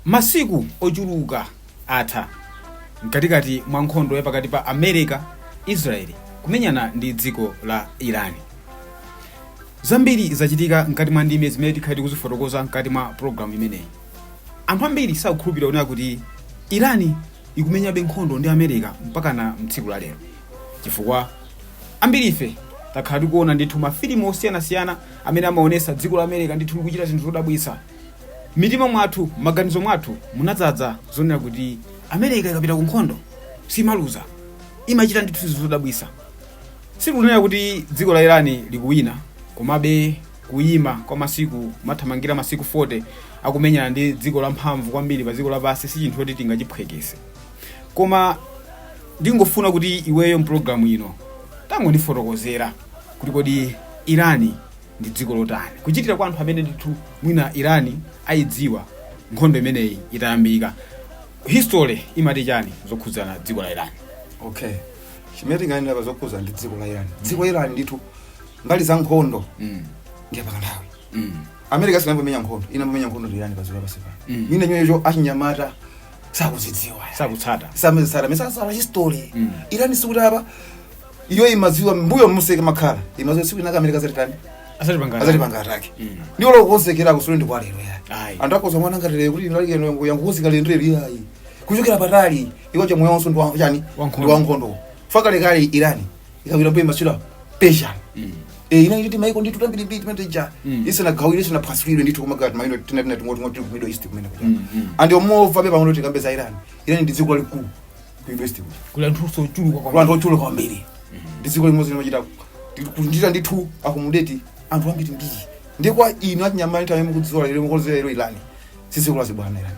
masiku ochuluka atha mkatikati mwa nkhondo ya pakati pa america israel kumenyana ndi dziko la iran zambiri zachitika mkati mwa ndime zimene tikhala tikuzifotokoza mkati mwa programu imeneyi anthu ambiri sakukhulupirira kunena kuti iran ikumenyabe nkhondo ndi america mpakana tsiku la lero chifukwa ambiri ife takhala tikuona ndithu mafilimu osiyanasiyana amene amaonesa dziko la America ndithu likuchita zinthu zodabwitsa. M'mitima mwathu, m'maganizo mwathu munadzaza zonena kuti America ikapita ku nkhondo simaluza, imachita ndithu zinthu zodabwitsa. Sitikunena kuti dziko la Iran likuwina, komabe kuyima kwa masiku kumathamangira masiku 40 akumenyana ndi dziko lamphamvu kwambiri pa dziko lapansi si chinthu choti tingachiphwekese. Koma ndingofuna kuti iweyo m'pulogalamu ino tangondifotokozera. kuti kodi irani ndi dziko lotani kuchitira kwa anthu amene ndithu mwina irani ayidziwa nkhondo imeneyi itayambika history imati chani zokhudzana dziko la irani okay chimene tinganena pa zokhudzana ndi dziko la irani dziko la irani ndithu mbali ya nkhondo mm. ndiye patali mm. america sinayambe yamenya nkhondo inayamba yamenya nkhondo ndi irani pa dziko lapansi pano Mm. mwina nyoyecho achinyamata sakuzidziwa sakutsata samazitsata mesasala history Mm. irani sikuti apa iyo imadziwa mbuyo monse imakhala imadziwa tsiku linalake amerika adzatitani asati pangana adzatipanga attack ndiwo akukonzekera kusule ndi kwalero yani Ayi. anthu akhoza kuona ngati lero kuti irani iyo yangokonzeka lero lero iyayi kuchokera patali iwo cha moyo wonse ndi wa- chani Wankhondo. ndi wankhondo pakalekale irani ukabwerera mmbuyo imatchulidwa persian Eh, inali timaiko ndithu tambirimbiri nthawi imene ija isanagawidwe isanaphwasulidwe ndithu koma timaiko tina tina ting'onoting'ono ku middle east kumene kuja ah komabe pang'ono tikambe za iran iran ndi dziko lalikulu ku Middle East kuno. kuli anthu ochuluka Kuli anthu ochuluka kwambiri ndi dziko limodzi limachita kuchita ndithu akumudeti anthu ambirimbiri ndi kwa inu achinyamata amene mukuidziwa lero mukuidziwa lero irani sisi kulazi bwana irani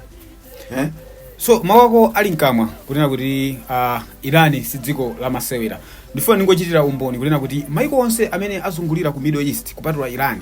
eh so mawu ako ali mkamwa kunena kuti uh, irani si dziko la masewera ndifuna ndingochitira umboni kunena kuti maiko onse amene azungulira ku middle east kupatula irani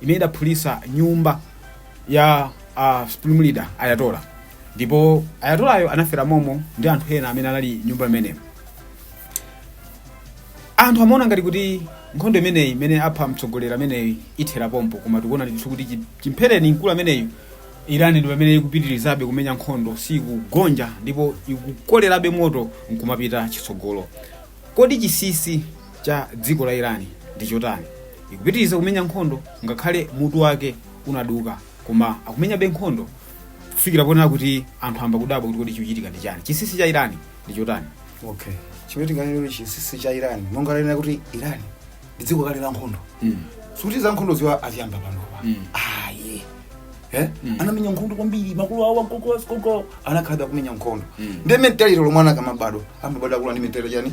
imene idaphulitsa nyumba ya uh, supreme leader ayatola ndipo ayatolayo anafera momo ndi anthu ena amene anali nyumba imeneyo anthu amaona ngati kuti nkhondo imeneyi imene apha mtsogoleri ameneyi ithera pompo koma tikuona ndithu kuti chi- chimphereni mkulu ameneyu irani ndi pamene ikupitirizabe kumenya nkhondo sikugonja ndipo ikukolerabe moto nkumapita chitsogolo kodi chinsinsi cha dziko la Irani ndi chotani? Ikupitiriza kumenya nkhondo ngakhale mutu wake unaduka koma akumenyabe nkhondo kufikira ponena kuti anthu ayamba kudabwa kuti kodi chikuchitika ndi chani. Chinsinsi cha Irani ndi chotani? okay chimene tinganene kuti chinsinsi cha irani monga lena kuti irani ndi dziko lakale la nkhondo Mm. sikuti za nkhondo ziwa aziyamba panopa Mm. ayi Eh? Mm. anamenya nkhondo kwambiri makulu awo agogo agogo anakhalabe akumenya nkhondo Mm. ndi mentality lomwe ana akamabadwa amabadwa akula ndi mentality chani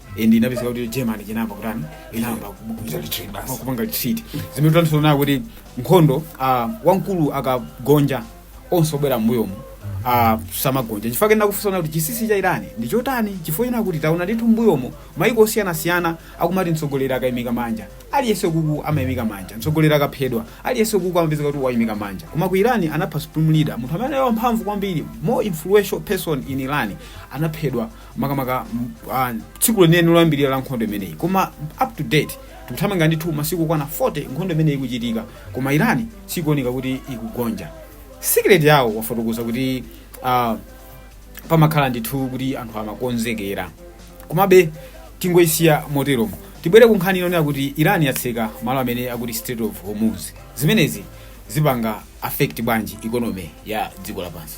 and inapezeka kuti germany inayamba kutani inayamba Kuchita retreat basi. kupanga retreat zimene tikutanthauza kuti nkhondo ah, wamkulu akagonja onse obwera mbuyomu ah, samagonja chifukwa chake ndikufunsa kuti chinsinsi cha irani ndi chotani chifukwa china kuti taona ndithu mbuyomu maiko osiyanasiyana akumati mtsogoleri akayimika manja aliyense kuku amayimika manja mtsogoleri akaphedwa aliyense kuku amapezeka kuti wayimika manja koma ku irani anapha supreme leader munthu amene ali wamphamvu kwambiri more influential person in irani anaphedwa makamaka m- ah, tsiku lenileni loyambirira la nkhondo imeneyi koma up to date tikuthamangira ndithu masiku okwana 40 nkhondo imeneyi ikuchitika koma irani sikuoneka kuti ikugonja secret yawo wafotokoza kuti ah, pamakhala ndithu kuti anthu amakonzekera komabe tingoyisiya moteromo tibwere ku nkhani yonena kuti iran yatseka malo amene akuti Strait of Hormuz zimenezi zipanga affect bwanji economy ya dziko lapansi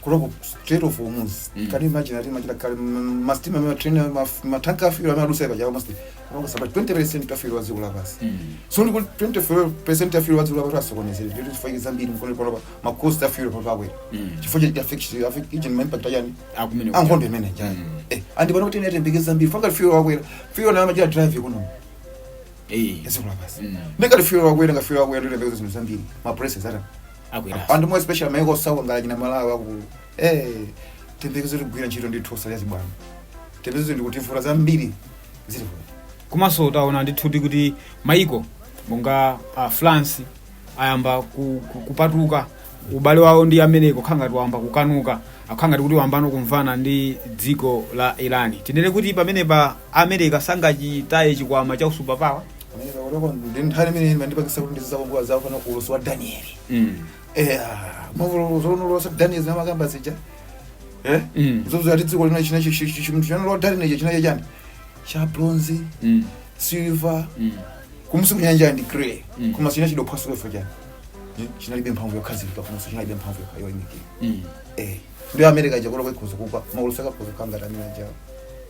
kuloko Strait of Hormuz Mm. can you imagine ati machita kale mm, masitima ma train ma ma tank a fuel amadutsa pajapo masti kuloko saba 20% ya fuel wa dziko lapansi Mm. so ndi kuti 20% ya fuel wa dziko lapansi wasokonezeka kuti chifukwa zambiri mkono polopa ma cost a fuel pa pawe Mm. chifukwa cha affect affect each and impact yani Akumene kuti- a nkhondo imeneyi Mm. eh andi pano kuti tiyembekezere zambiri chifukwa fuel wakwera fuel ndi amachita drive economy Eh. ya dziko lapansi Mm. ndiye ngati fuel wakwera ngati fuel wakwera tiyembekezere zinthu zambiri ma prices ata akweranso anthu more special maiko osauka ngati Malawi akulu eh tiyembekezere tigwira ntchito ndi thosa ya zibwana tiyembekezere ndi kuvutika zambiri zili kuno komanso taona ndithu kuti maiko monga uh, france ayamba ku, ku, kupatuka ubale wawo ndi america kukhala ngati wayamba kukanuka akukhala ngati kuti wayambano kumvana ndi dziko la irani tinene kuti pamenepa america sangachitaye chikwama cha u-superpower America kutoko ndi nkhani imene imandipangitsa kuti ndizizakongola zawo kana ulosi wa danieli mm. Eh, mwavulo zolosera daniel zimene amakamba zija Eh? Mm. zozo ati dziko lino china chimunthu chanalowa daniel icho chinali chani cha bronze Mm. silver Mm. kumusi kunali ndi clay Mm. koma china chidophwasukefa chani Eh, chinalibe mphamvu yokhazikika komanso chinalibe mphamvu yokha- yoyimikira Mm. Eh, ndi america chakola ikhoza kugwa maulosi akhoza kukamba tamina jawo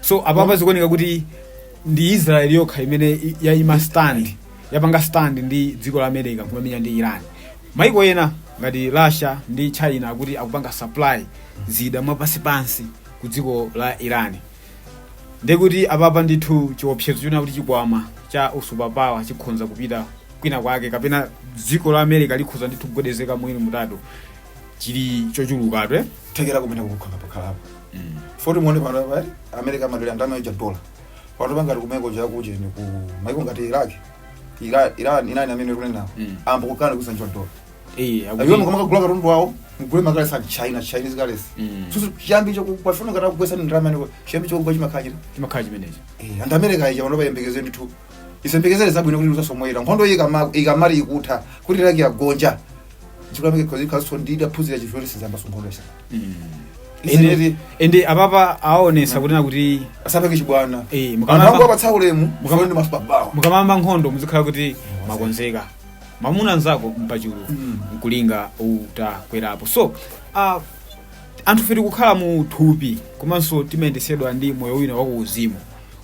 so apapa zikuoneka kuti ndi israel yokha imene i- yaima stand yapanga stand ndi dziko la america kumamenyana ndi iran maiko ena ngati russia ndi china akuti akupanga supply zida mwapansipansi ku dziko la iran ndekuti apapa ndithu chiopsezo china kuti chikwama cha usupapawa chikhonza kupita kwina kwake kapena dziko la america likhoza ndithu kugwedezeka mwina mutatu chili chochulukatu eh? kuthekera kumene kukhala pakhalapo foti muone pano apa eh, america amadalira ndalama ija dola pano pangati kumeneko chakuti ndi ku maiko ngati iraq Ira- iran ndi ena amene akunenawo Mm. ayamba kukana kusinja dola Eh, akuti- iwo mukamakagula katundu wawo mugule makale sa china chinese currency Mm. so chiyambi chakupafuna ngati akugwesa ndi ndalama ya dziko chiyambi chakugwa chimakhachira chimakhala chimenecho Eh, ande america ija pano iyembekeze ndithu isayembekeze zabwino kuti izasangomwera nkhondo iyi ikama- ikamadzatha kuti iraq yagonja chikulamike kuti nazonso ndidaphunzira chifukoti sizayambaso nkhondo isakati izizi ende apapa aonesa kunena kuti asapange chibwana Eh, mukamamba- anthu kuwapatsa ulemu mufane ndi mafupa bawo mukamayamba nkhondo muzikhala kuti mwakonzeka mamuna nzako mpachulu Mm. nkulinga utakwerapo so uh, anthufe tikukhala mu thupi komanso timayendesedwa ndi moyo wina wakuuzimu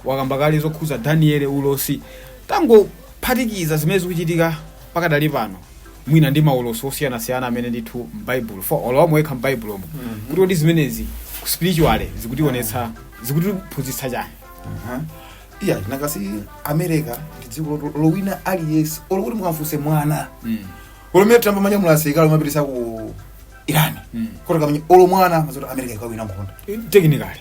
mwakamba kale zokhuza daniele ulosi tangophatikizani zimene zikuchitika pakadali pano mwina ndi maulosi osiyanasiyana amene ndithu m'baibulo for all omwe ali m'baibulomo kuti kodi zimenezi ku spiritually zikutionetsa zikutiphunzitsa chani Aha. yah because america ndi dziko lo- lowina aliyense olo kuti mukamfunse mwana Mm. olo mwana atamamenya mwa asilikali omwe apitisa ku iran Mm. kuti akamenye olo mwana amadziwa zoti america ikawina nkhondo technically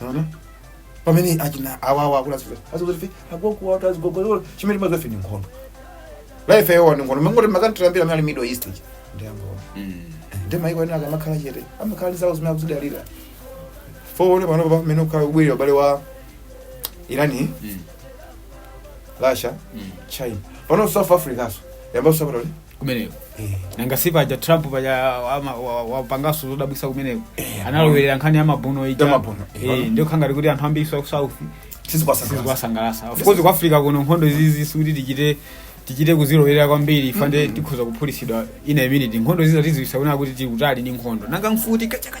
Unaona? pamene akina awawa akula zife azife agogo watu azigogololo chimene amadziwa iwo ni nkhondo life yawo ni nkhondo mangoti mukati kumbali ya middle east ichi ndiye nkhondo Mm. ndiye maiko ena akamakhala chete amakhala ndi zawo zimene akuzidalira foti muone panopa pamene ukukhala kubwera ubale wa irani Mm. russia Mm. china pano south africanso yamba kusapota kuti kumeneko nanga si paja trump paja ama- wa- wapanganso zodabwisa kumeneko analowerera nkhani ya mabuno ija Ya mabuno, Eh, eh. ndiyo ikhala ngati kuti anthu ambiri ku south sizikwasangalasa sizikuwasangalasa of course ku africa kuno nkhondo izizi sikuti tichite tichite kuzilowerera kwambiri ife nde tikhoza kuphulisidwa in a minute nkhondo izizi tiziziona kunena kuti tikutali ndi nkhondo nanga mfuti kachaka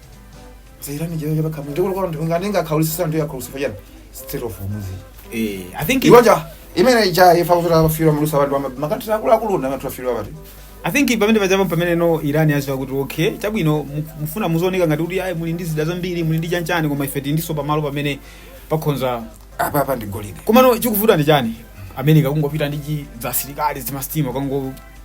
za irani chero chapakamwa ndikulu kwa ndinga ndingakhaulisise ndiya khaulisisa chana strait of hormuz eh i think iwaja imene ija ifa kuzola fira mulusa bantu ama makatira akulu akulu na matu fira bati i think pamene panja apa pameneno iran yaziwa kuti okay chabwino mu- mufuna muzooneka ngati kuti ayi muli ndi zida zambiri muli ndi chanchani koma ife tindiso pamalo pamene pakhoza apa apa ndi golide komano chikuvuta ndi chani america kungopita ndi chi- za asilikali zimasitima kango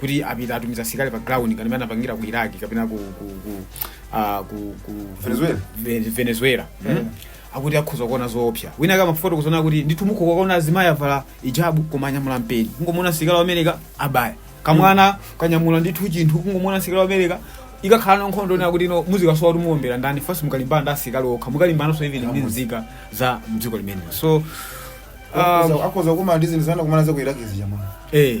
kuti apita atumiza asilikali pa ground ngati amene anapangira ku iraq kapena ku, ku, ku, uh, ku, ku Venezuela. Ve- venezuela mm. akuti akhoza kuona zoopsa wina akati mafoto kuzoona kuti ndithu mukhoza kuona azimayi avala ijabu koma anyamula mpeni kungomuona msilikali wa America abaya kamwana kanyamula ndithu chinthu kungomuona msilikali wa America ikakhala ndi nkhondo ina kuti no muzikasowa kuti muombera ndani fasi mukalimbana ndi asilikali okha mukalimbananso even ndi nzika za mdziko limenelo so um, akhoza kumana ndi zinthu zimene anakumana nazo ku iraq zija mwana eh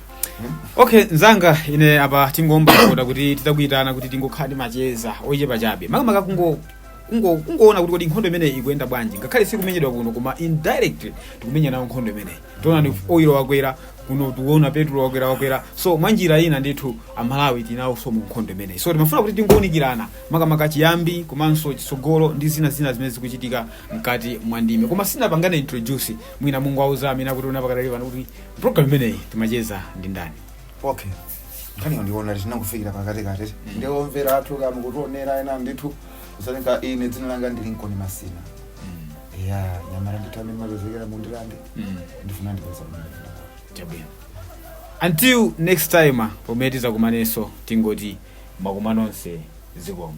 okay mnzanga ine apa tingothokoza kuti tinakuyitana kuti tingokhala ndi macheza ochepa chabe makamaka kungo kungo kungoona kuti kodi nkhondo imeneyi ikuyenda bwanji ngakhale sikumenyedwa kuno koma indirectly tikumenya nawo nkhondo imeneyi tiona ndi oilo wakwera kuno tiona petulo wakwera wakwera so mwa njira ina ndithu amalawi tili nawonso mu nkhondo imeneyi so timafuna kuti tingoonikirana makamaka chiyambi komanso chitsogolo ndi zina zina zimene zikuchitika mkati mwa ndime koma sinapangane introduce mwina mungawauze amene akutionera pakadali pano kuti program imeneyi timacheza ndi ndani okay nkhani ndi yoona tinangofikira pakati kati ndiye omvera athu amene akutionera ena ndithu kusanika ine dzina langa ndine nkoni masina ya nyamara ndithu amene mazozekera mundilande ndifuna ndipeza munda chabwino until next time pomwe tizakumanenso tingoti madzulo nonse zikomo